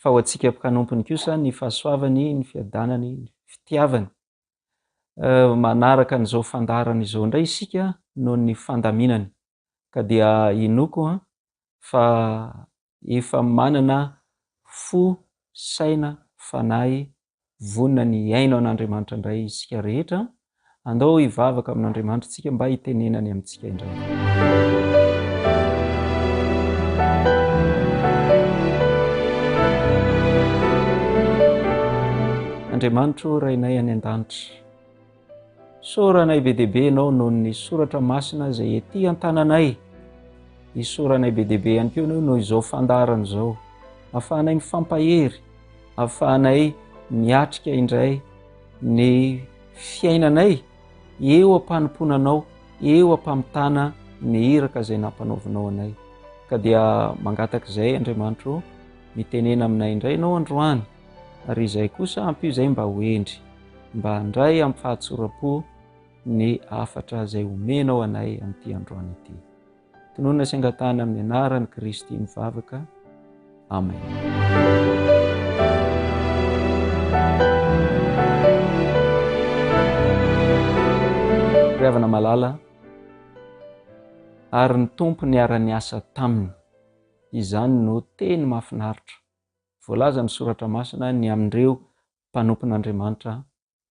fa ho antsika mpkanompony kosa ny fahasoavany, ny fiadanany, ny fitiavany. Manaraka an'izao fandaharana izao indray isika noho ny fandaminany, ka dia inoako fa efa manana fo, saina, fanahy Vonona ny hihaino an'Andriamanitra indray isika rehetra. Andao hivavaka amin'Andriamanitra isika mba hitenenany amintsika indray. Andriamanitro Rainay any an-danitra. Isaoranay be dia be Ianao noho ny soratra masina izay ety an-tananay. Isaoranay be dia be ihany koa Ianao noho izao fandaharana izao. Ahafahanay mifampahery, ahafahanay miatrika indray ny fiainanay eo am-panompoana Anao, eo am-pamitana ny iraka izay nampanaovinao anay. Ka dia mangataka izay Andriamanitro, mitenena aminay indray Ianao androany, ary izay kosa ampio izay mba ho hendry. mba handray amin'ny fahatsoram-po ny hafatra izay omenao anay amin'ity androany ity. Tononina sy angatahina amin'ny anaran'i Kristy ny vavaka. Amen. Ry havana malala, ary ny Tompo niara-niasa taminy. Izany no teny mahafinaritra voalazan'ny Soratra Masina ny amin'ireo mpanompon'Andriamanitra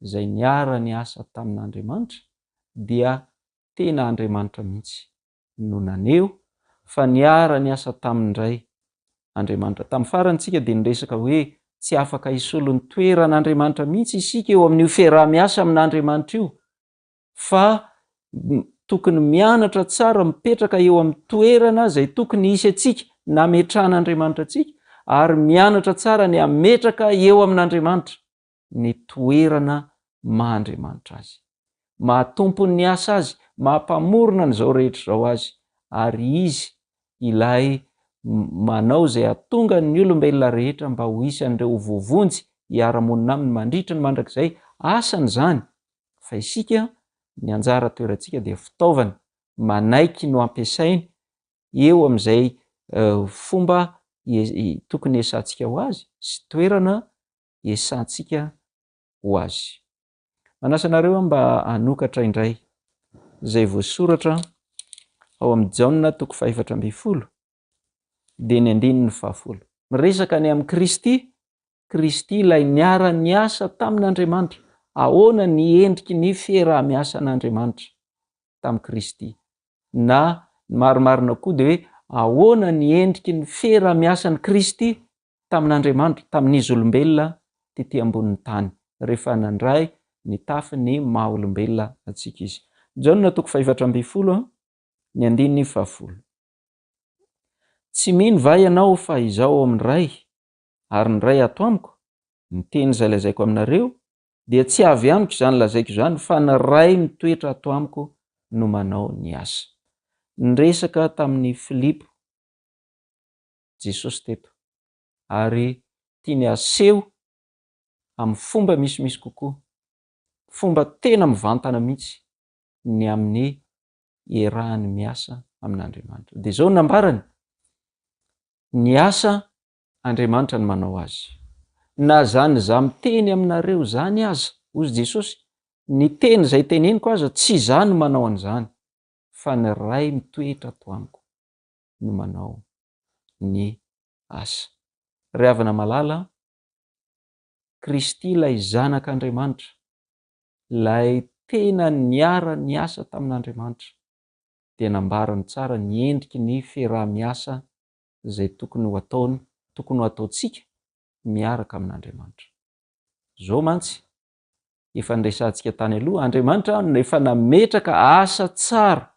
izay niara-niasa tamin'Andriamanitra dia tena Andriamanitra mihitsy no naneho fa niara-niasa taminy indray Andriamanitra. Tamin'ny farany isika dia niresaka hoe tsy afaka hisolo ny toeran'Andriamanitra mihitsy isika eo amin'io fiaraha-miasa amin'Andriamanitra io fa tokony mianatra tsara mipetraka eo amin'ny toerana izay tokony hisy antsika nametran'Andriamanitra antsika ary mianatra tsara ny hametraka eo amin'Andriamanitra ny toerana maha Andriamanitra azy maha tompon'ny asa azy maha mpamorona an'izao rehetra izao azy ary izy ilay manao izay hatonga ny olombelona rehetra mba ho isan'ireo vovonjy hiara-monina aminy mandritra ny mandrakizay asany izany fa isika ny anjara toerantsika dia fitaovana manaiky no ampiasainy eo amin'izay fomba tokony hiesantsika ho azy sy toerana hiesantsika ho azy. Manasa anareo aho mba hanokatra indray izay voasoratra ao amin'ny Jaona toko fahefatra ambin'ny folo dia ny andininy fahafolo. Miresaka ny amin'i Kristy Kristy ilay niara-niasa tamin'Andriamanitra. Ahoana ny endriky ny fiaraha-miasan'Andriamanitra tamin'i Kristy? Na ny marimarina koa dia hoe ahoana ny endriky ny fiaraha-miasan'i Kristy tamin'Andriamanitra, tamin'izy olombelona tetỳ ambonin'ny tany, rehefa nandray ny tafin'ny maha-olombelona antsika izy? Jaona toko fahefatra ambin'ny folo, ny andininy fahafolo. Tsy mino va ianao fa Izaho ao amin'ny Ray? ary ny Ray ato amiko, ny teny izay lazaiko aminareo, dia tsy avy amiko izany lazaiko izany, fa ny Ray mitoetra ato amiko no manao ny asa. Niresaka tamin'i Filipo Jesosy teto, ary tiany haseho amin'ny fomba misimisy kokoa, fomba tena mivantana mihitsy, ny amin'ny iarahany miasa amin'Andriamanitra. Dia izao no nambarany, Ny asa Andriamanitra no manao azy. Na zany za miteny aminareo zany aza, ozy Jesosy, ny teny zay teneniko aza tsy za no manao an'izany fa ny Ray mitoetra ato amiko no manao ny asa. Ry havana malala a, Kristy ilay Zanak'Andriamanitra, ilay tena niara niasa tamin'Andriamanitra dia nambarany tsara ny endriky ny fiaraha-miasa izay tokony ho ataony, tokony ho ataontsika miaraka amin'Andriamanitra. Izao mantsy, efa niresahantsika tany aloha, Andriamanitra efa nametraka asa tsara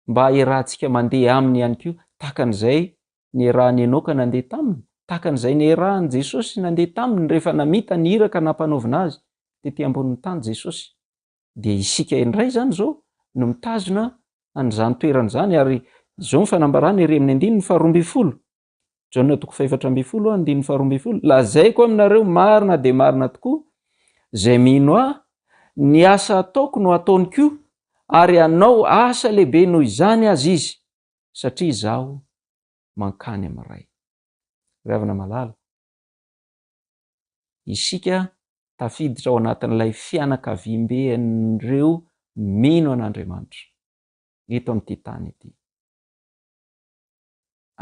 mba haherahantsika mandeha Aminy ihany koa, tahaka an'izay nierahan'i Enoka nandeha Taminy, tahaka an'izay nierahan'i Jesosy nandeha Taminy rehefa namita ny iraka nampanaovina Azy tety ambonin'ny tany Jesosy. dia isika indray izany izao no mitazona an'izany toerana izany ary izao ny fanambarana ery amin'ny andininy faharoa ambin'ny folo Jaona toko fahefatra ambin'ny folo andininy faharoa ambin'ny folo lazaiko aminareo marina dia marina tokoa izay mino ahy ny asa ataoko no ataony koa ary anao asa lehibe noho izany azy izy satria izaho mankany amin'ny ray ravina malala Isika tafiditra ao anatin'ilay fianakaviambe an'ireo mino an'Andriamanitra eto amin'ity tany ity.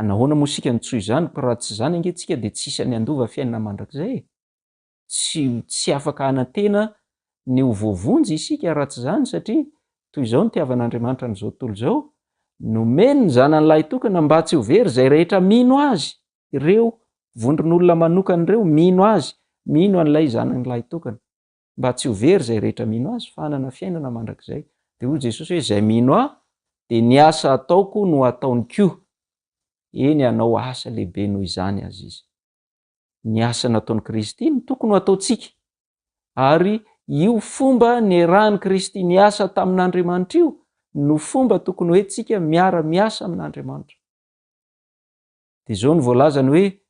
Anahoana moa isika no tsy ho izany? Ko raha tsy izany ange tsika dia tsisy any handova fiainana mandrakizay e! Tsy tsy afaka hanantena ny ho voavonjy isika raha tsy izany satria toy izao ny tiavan'Andriamanitra an'izao tontolo izao, Nomeny ny Zanany Lahitokana mba tsy ho very izay rehetra mino Azy. ireo vondron'olona manokana ireo mino azy, mino an'ilay zanany lahitokana, mba tsy ho very izay rehetra mino azy, fa hanana fiainana mandrakizay. Dia hoy Jesosy hoe, izay mino ahy, dia ny asa ataoko no hataony koa, eny hanao asa lehibe noho izany aza izy. Ny asa nataon'i Kristy no tokony ho ataontsika, ary io fomba niarahan'i Kristy niasa tamin'Andriamanitra io no fomba tokony hoentintsika miara-miasa amin'Andriamanitra. Dia izao no voalazany hoe,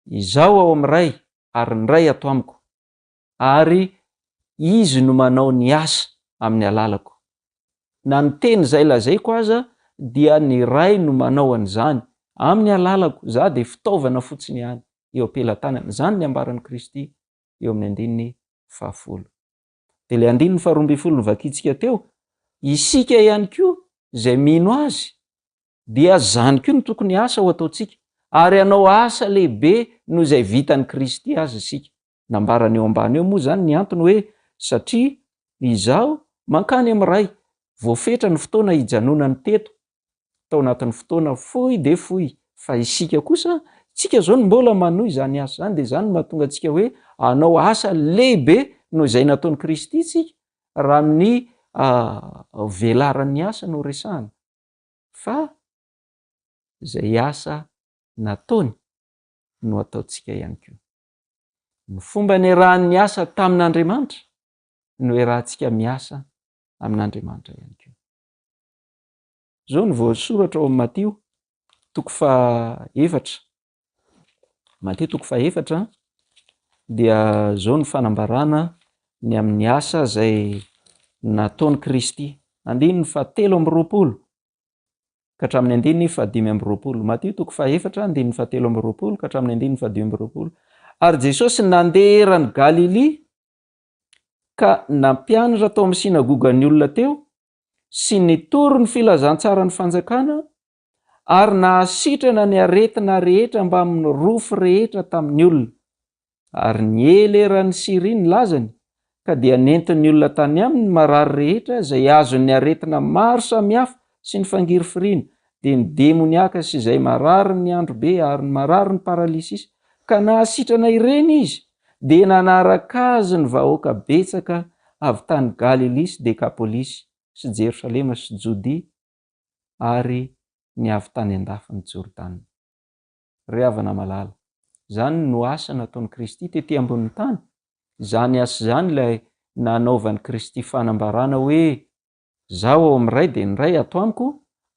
Izaho ao amin'ny Ray, ary ny Ray ato amiko, ary Izy no manao ny asa amin'ny alalako. Na ny teny izay lazaiko aza, dia ny Ray no manao an'izany, amin'ny alalako, izaho dia fitaovana fotsiny ihany, eo am-pelatanany. Izany ny ambaran'i Kristy eo amin'ny andininy fahafolo. Dia ilay andininy faharoa ambin'ny folo novakintsika teo, isika ihany koa izay mino azy dia izany koa no tokony asa ho ataontsika, ary hanao asa lehibe noho izay vitan'i Kristy azy isika. Nambarany eo ambany eo moa izany ny antony hoe, satria izaho mankany amin'ny Ray, voafetra ny fotoana hijanonany teto tao anatin'ny fotoana fohy dia fohy fa isika kosa tsika zao no mbola manohy izany asa izany dia izany no mahatonga antsika hoe anao asa lehibe noho izay nataon'i Kristy tsika raha amin'ny ah, velaran'ny asa no resahana fa izay asa nataony no ataontsika ihany koa. Ny fomba niarahan'ny asa tamin'Andriamanitra no iarahantsika miasa amin'Andriamanitra ihany koa. Izao no voasoratra ao amin'ny Matio toko faha-efatra. Matio toko faha-efatra dia izao no fanambarana ny amin'ny asa izay nataon'i Kristy. Andininy fahatelo amby roapolo ka hatramin'ny andininy fahadimy amby roapolo. Matio toko faha-efatra, andininy fahatelo amby roapolo ka hatramin'ny andininy fahadimy amby roapolo. Ary Jesosy nandeha eran'i Galilia ka nampianatra tao amin'ny synagogan'ny olona teo sy nitory ny filazantsaran'ny fanjakana ary nahasitrana ny aretina rehetra mbamin'ny rofy rehetra tamin'ny olona. Ary niely eran'i Syria ny lazany, ka dia nentin'ny olona tany aminy ny marary rehetra izay azon'ny aretina maro samihafa sy ny fangirifiriana, dia ny demoniaka sy izay marary ny androbe ary ny marary ny paralysisy, ka nahasitrana ireny izy. dia nanaraka Azy ny vahoaka betsaka avy tany Galilia sy Dekapolisy sy Jerosalema sy Jodia ary ny avy tany an-dafin'i Jordana. Ry havana malala, izany no asa nataon'i Kristy tety ambonin'ny tany, izany asa izany ilay nanaovan'i Kristy fanambarana hoe Izaho ao amin'ny Ray dia ny Ray ato amiko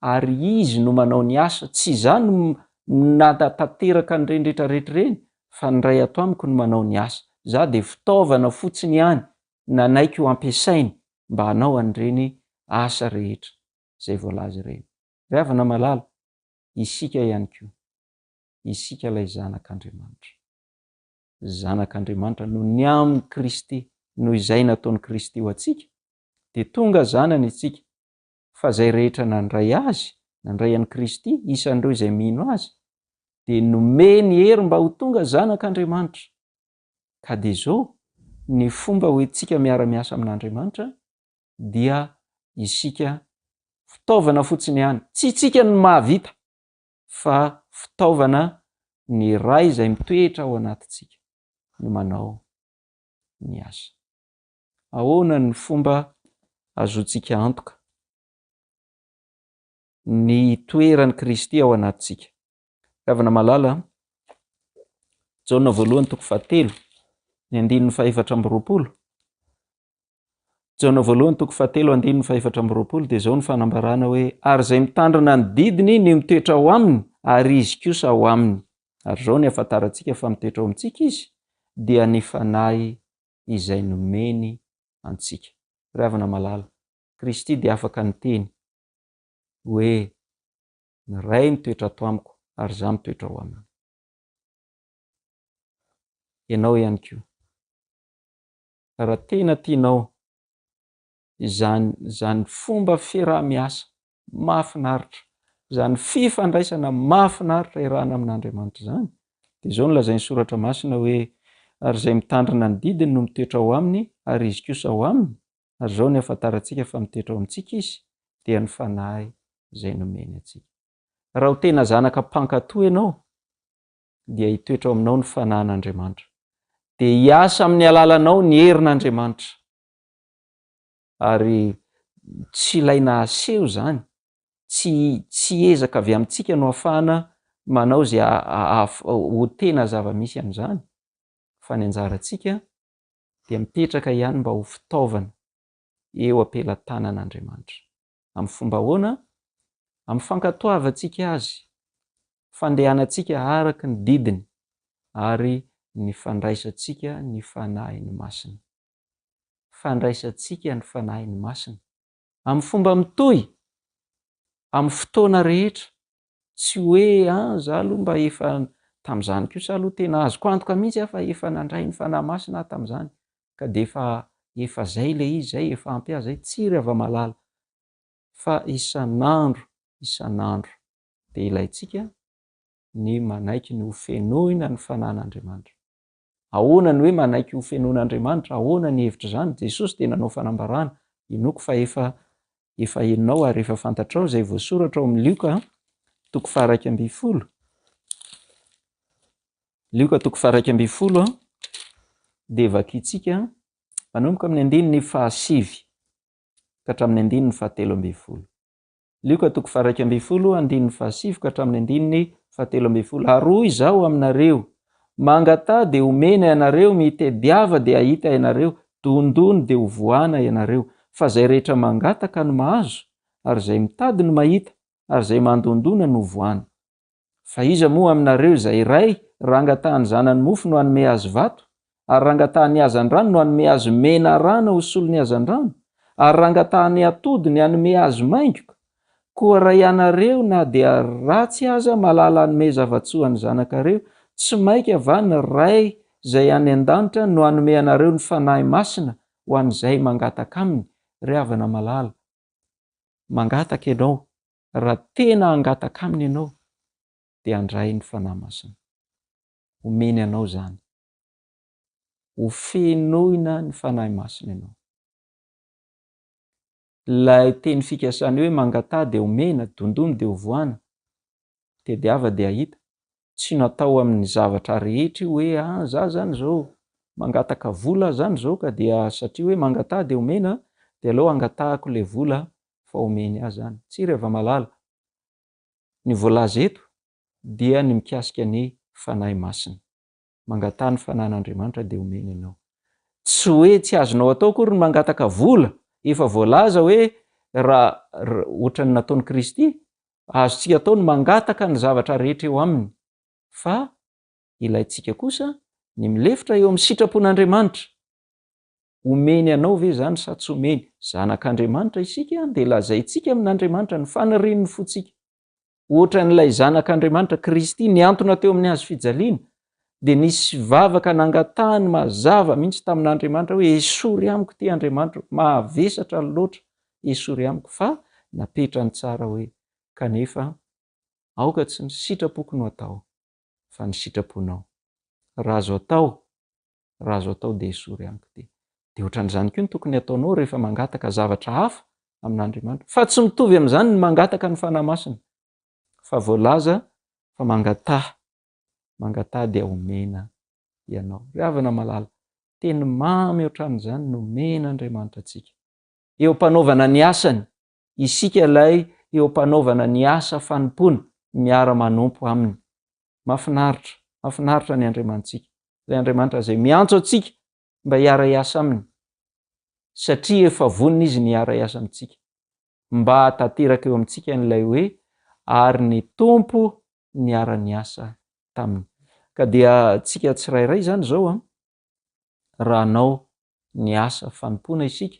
ary Izy no manao ny asa. Tsy izaho no mnatatanteraka an'ireny rehetra rehetra ireny fa ny Ray ato amiko no manao ny asa. Izaho dia fitaovana fotsiny ihany nanaiky ho ampiasainy mba hanao an'ireny asa rehetra izay voalaza ireny. Ry havana malala, isika ihany koa, isika ilay zanak'Andriamanitra. Zanak'Andriamanitra noho ny amin'i Kristy, noho izay nataon'i Kristy ho antsika, Dia tonga zanany isika, fa izay rehetra nandray Azy, nandray an'i Kristy, isan'ireo izay mino Azy, dia nomeny hery mba ho tonga zanak'Andriamanitra. Ka dia izao, ny fomba hoentintsika miara-miasa amin'Andriamanitra, dia isika fitaovana fotsiny ihany, tsy isika no mahavita, fa fitaovana ny Ray izay mitoetra ao anatintsika no manao ny asa. Ahoana ny fomba ahazoantsika antoka ny toeran'i Kristy ao anatintsika? Ravina malala, Jaona voalohany toko fahatelo, ny andininy fahefatra amby roapolo. Jaona voalohany toko fahatelo, andininy fahefatra amby roapolo, dia izao ny fanambarana hoe, Ary izay mitandrina ny didiny no mitoetra ao aminy, ary izy kosa ao aminy. Ary izao ny ahafantarantsika fa mitoetra ao amintsika izy, dia ny Fanahy izay nomeny antsika. Ry havana malala, Kristy dia afaka niteny hoe, Ny Ray mitoetra ato amiko ary izaho mitoetra ao aminy. Ianao ihany koa, raha tena tianao izany izany fomba fiaraha-miasa mahafinaritra. Izany fifandraisana mahafinaritra iarahana amin'Andriamanitra izany, dia izao no lazain'ny Soratra Masina hoe, Ary izay mitandrina ny didiny no mitoetra ao aminy, ary izy kosa ao aminy, ary izao no ihafantarantsika fa mitoetra ao amintsika izy, dia ny Fanahy izay nomeny antsika. Raha ho tena zanaka mpankato ianao, dia hitoetra ao aminao ny Fanahin'Andriamanitra. Dia hiasa amin'ny alalanao ny herin'Andriamanitra. Ary tsy ilay nahaseho izany, tsy tsy ezaka avy amintsika no afahana manao izay hahafa ho tena zava-misy amin'izany, fa ny anjarantsika dia mipetraka ihany mba ho fitaovana eo am-pelatanan'Andriamanitra. Amin'ny fomba ahoana? Amin'ny fankatoavantsika Azy, fandehanantsika araka ny didiny, ary ny fandraisantsika ny Fanahiny Masina. fandraisantsika ny Fanahiny Masina. Amin'ny fomba mitohy, amin'ny fotoana rehetra, tsy hoe an za aloha mba efa tamin'izany kosa aloha tena azoko antoka mihitsy aho fa efa nandray ny Fanahy Masina aho tamin'izany ka dia efa efa zay ilay izy zay efa ampy ahy zay, tsia ry hava-malala fa isan'andro isan'andro dia ilaintsika ny manaiky ny hofenoina ny Fanahin'Andriamanitra. Ahoana ny hoe manaiky ho fenoin'Andriamanitra? Ahoana ny hevitr'izany? Jesosy dia nanao fanambarana, Henoiko fa efa efa henonao ary efa fantatrao izay voasoratra ao amin'ny Lioka toko faha-iraika ambin'ny folo. Lioka toko faha-iraika ambin'ny folo dia vakintsika manomboka amin'ny andininy fahasivy ka hatramin'ny andininy fahatelo ambin'ny folo. Lioka toko faharaika ambin'ny folo andininy fahasivy ka hatramin'ny andininy fahatelo ambin'ny folo Ary hoy Izaho aminareo, Mangataha dia homena ianareo, mitediava dia hahita ianareo, dondony dia hovoahana ianareo. Fa izay rehetra mangataka no mahazo, ary izay mitady no mahita, ary izay mandondona no hovoahana. Fa iza moa aminareo izay ray raha angatahan'ny zanany mofo no hanome azy vato? Ary raha angatahan'ny hazandrano no hanome azy mena rana ho solon'ny hazandrano? Ary raha angatahan'ny atody ny hanome azy maingoka? Koa raha ianareo na dia ratsy aza mahalala hanome zava-tsoa an'ny zanakareo, tsy mainka va ny Ray izay any an-danitra no hanome anareo ny Fanahy Masina ho an'izay mangataka Aminy? Ry havana malala, mangataka ianao Raha tena hangataka Aminy ianao, dia handray ny Fanahy Masina. Homeny anao izany. Hofenoina ny Fanahy Masina ianao. Ilay teny fikasany hoe mangataha dia homena, dondony dia hovohana, tediava dia hahita, tsy natao amin'ny zavatra rehetra io hoe ah za zany izao mangataka vola zany izao ka dia satria hoe mangataha dia omena dia aleo angatahako le vola fa omeny ahy zany tsy Ravamalala ny voalaza eto dia ny mikasika ny fanahy masina mangataha ny fanahin'Andriamanitra dia omeny anao tsy hoe tsy azonao atao akory ny mangataka vola efa voalaza hoe raha ohatran'ny nataon'i Kristy Azontsika atao ny mangataka ny zavatra rehetra eo aminy, fa ilaintsika kosa ny milefitra eo amin'ny sitrapon'Andriamanitra. Omeny anao ve izany sa tsy omeny? Zanak'Andriamanitra isika, dia lazaintsika amin'Andriamanitra ny fanirian'ny fontsika. Hoatran'ilay Zanak'Andriamanitra, Kristy, nihantona teo amin'ny hazofijaliana, dia nisy vavaka nangatahany mazava mihitsy tamin'Andriamanitra hoe esory amiko ity Andriamanitro, mahavesatra loatra esory amiko fa napetrany tsara hoe kanefa aoka tsy ny sitrapoko no atao fa ny sitraponao raha azo atao raha azo atao dia esory amiko ity. Dia ohatran'izany koa ny tokony hataonao rehefa mangataka zavatra hafa amin'Andriamanitra fa tsy mitovy amin'izany ny mangataka ny Fanahy Masina fa voalaza fa mangataha mangataha dia omena ianao. Ry havana malala, teny mamy ohatran'izany no omen'Andriamanitra antsika. Eo am-panaovana ny asany, isika ilay eo am-panaovana ny asa fanompoana miara-manompo Aminy. Mahafinaritra, mahafinaritra ny Andriamanitsika, ilay Andriamanitra izay miantso antsika mba hiara-hiasa Aminy, satria efa vonona Izy ny hiara-hiasa amintsika. mba hahatanteraka eo amintsika an'ilay hoe ary ny Tompo niara-niasa taminy. Ka dia antsika tsirairay izany izao an, raha hanao ny asa fanompoana isika,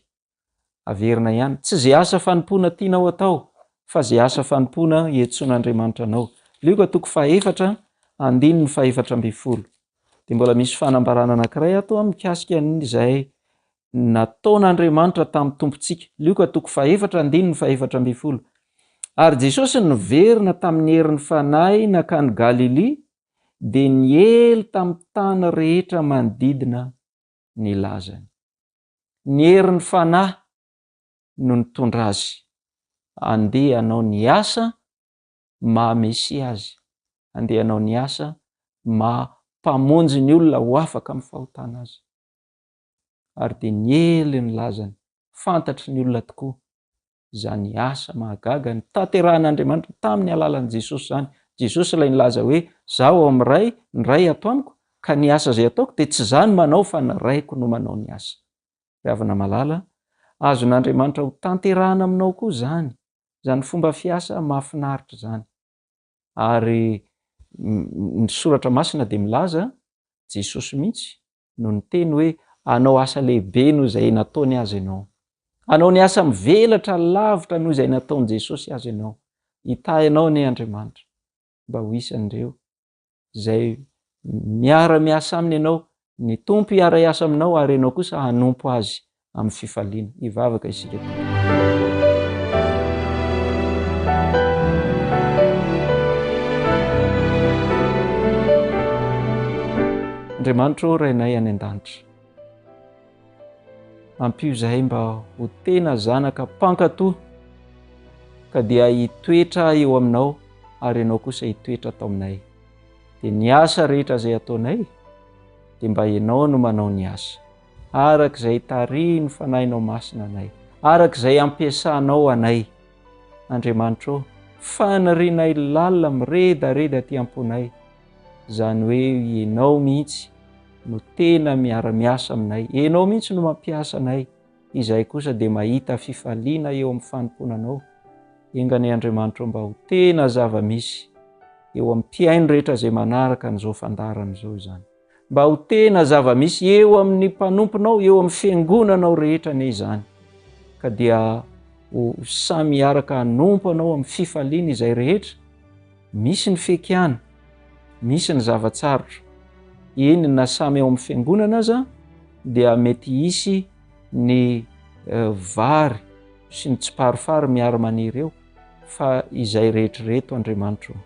averina ihany, tsy izay asa fanompoana tianao atao, fa izay asa fanompoana iantsoan'Andriamanitra anao. Lioka toko fahefatra, andininy fahefatra ambin'ny folo. Dia mbola misy fanambarana anankiray ato an, mikasika an'izay nataon'Andriamanitra tamin'ny Tompontsika. Lioka toko fahefatra andininy fahefatra ambin'ny folo. Ary Jesosy niverina tamin'ny herin'ny Fanahy nankany Galilia dia niely tamin'ny tany rehetra manodidina ny lazany. Ny herin'ny Fanahy no nitondra azy handeha hanao ny asa maha Mesia azy, handeha hanao ny asa maha Mpamonjy ny olona ho afaka amin'ny fahotana azy. ary dia niely ny lazany. Fantatry ny olona tokoa izany asa mahagaga notanterahin'Andriamanitra tamin'ny alalan'i Jesosy izany. Jesosy ilay nilaza hoe, Izaho ao amin'ny Ray, ny Ray ato amiko, ka ny asa izay ataoko dia tsy izaho no manao fa ny Raiko no manao ny asa. Ry havana malala, azon'Andriamanitra hotanterahina aminao koa izany, izany fomba fiasa mahafinaritra izany. Ary ny soratra masina dia milaza, Jesosy mihitsy no niteny hoe, Hanao asa lehibe noho izay nataony azy ianao. Hanao ny asa mivelatra lavitra noho izay nataon'i Jesosy azy ianao. Hitahy anao anie Andriamanitra mba ho isan'ireo izay miara-miasa aminy ianao, ny Tompo hiara-hiasa aminao ary ianao kosa hanompo azy amin'ny fifaliana. Hivavaka isika. Andriamanitro Rainay any an-danitra. Ampio izahay mba ho tena zanaka mpankato, ka dia hitoetra eo aminao ary ianao kosa hitoetra ato aminay. Dia ny asa rehetra izay ataonay, dia mba ianao no manao ny asa, araka izay tarihin'ny Fanahinao Masina anay, araka izay ampiasanao anay. Andriamanitra ô, fanirianay lalina miredareda aty am-ponay, izany hoe ianao mihitsy no tena miara-miasa aminay, ianao mihitsy no mampiasa anay, izahay kosa dia mahita fifaliana eo amin'ny fanompoana anao. Enga anie Andriamanitra mba ho tena zava-misy eo amin'ny mpihaino rehetra izay manaraka an'izao fandaharana izao izany. Mba ho tena zava-misy eo amin'ny mpanomponao, eo amin'ny fiangonanao rehetra anie izany. Ka dia ho samy hiaraka hanompo anao amin'ny fifaliana izay rehetra, Misy ny feky ihany, misy ny zava-tsarotra, eny na samy ao amin'ny fiangonana aza dia mety hisy ny vary sy ny tsiparifary miara-maniry eo fa izay rehetra ireto Andriamanitro ô!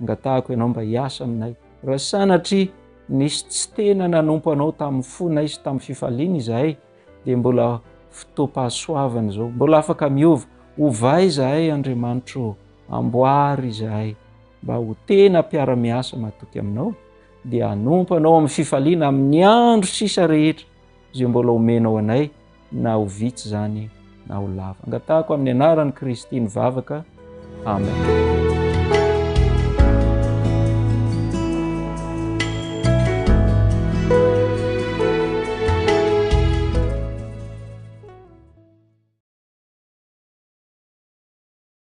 angatahako ianao mba hiasa aminay, raha sanatria nisy tsy tena nanompo anao tamin'ny fonay sy tamin'ny fifaliana izahay dia mbola fotoam-pahasoavana izao, mbola afaka miova, ovay izahay Andriamanitro ô! Amboary izahay mba ho tena mpiara-miasa matoky aminao, dia hanompo anao amin'ny fifaliana amin'ny andro sisa rehetra izay mbola omenao anay, na ho vitsy izany na ho lava. Angatahako amin'ny anaran'i Kristy ny vavaka. Amen.